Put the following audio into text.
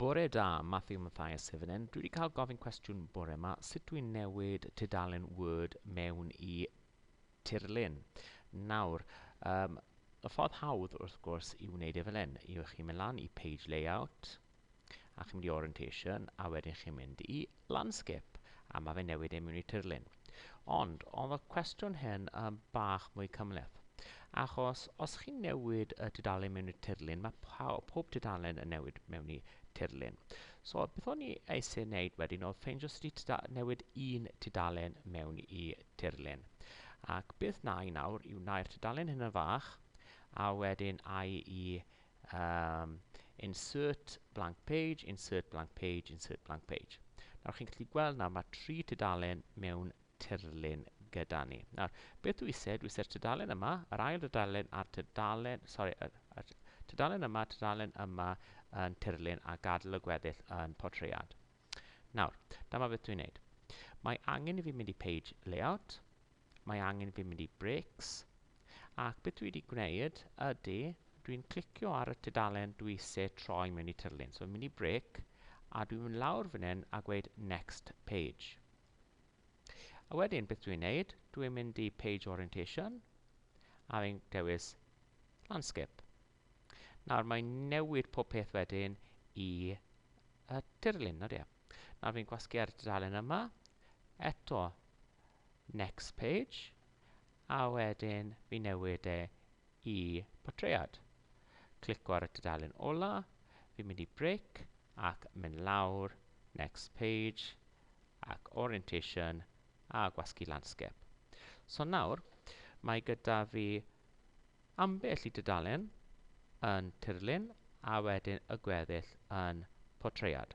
Bore da, Matthew Mathias sydd fan hyn. Dwi wedi cael gofyn cwestiwn bore yma, sut dwi'n newid tudalen Word mewn i tirlun? Nawr, um, y ffordd hawdd wrth gwrs i wneud e fel hyn, yw chi'n mynd lan i Page Layout, a chi'n mynd i Orientation, a wedyn chi'n mynd i Landscape, a mae fe'n newid e mewn i tirlun. Ond, oedd y cwestiwn hyn yn bach mwy cymhleth. Achos, os chi'n newid y tudalen mewn i tirlun, mae pob tudalen yn newid mewn i tirlun. So, beth o'n i eisiau wneud wedyn oedd ffeindio sut i newid un tudalen mewn i tirlun. Ac beth na i nawr yw wna'r tudalen hyn yn fach, a wedyn ai i Um, insert blank page, insert blank page, insert blank page. Nawr chi'n gallu gweld nawr mae tri tudalen mewn tirlun gyda ni. Nawr, beth dwi eisiau? Dwi eisiau'r tudalen yma, yr ail tudalen a'r tudalen, sorry, yr, yr tudalen yma, tudalen yma yn tirlun a gadael y gweddill yn portread. Nawr, dyma beth dwi'n neud. Mae angen i fi mynd i page layout, Mae angen fi mynd i Breaks. Ac beth dwi wedi gwneud ydy, dwi'n clicio ar y tudalen dwi eisiau troi mewn i tirlun. So fi'n mynd i Break, a dwi'n mynd lawr fan hyn a gweud Next Page. A wedyn, beth dwi'n neud, dwi'n mynd i Page Orientation, a fi'n dewis landscape. Nawr mae'n newid pob peth wedyn i y tirlun, nod ie. Nawr fi'n gwasgu ar y dudalen yma, eto Next page. A wedyn fi newid e i portread. Clico ar y tudalen ola, fi'n mynd i brick ac mynd lawr, next page, ac orientation a gwasgu landscape. So nawr, mae gyda fi ambell i dudalen yn tirlun a wedyn y gweddill yn portread.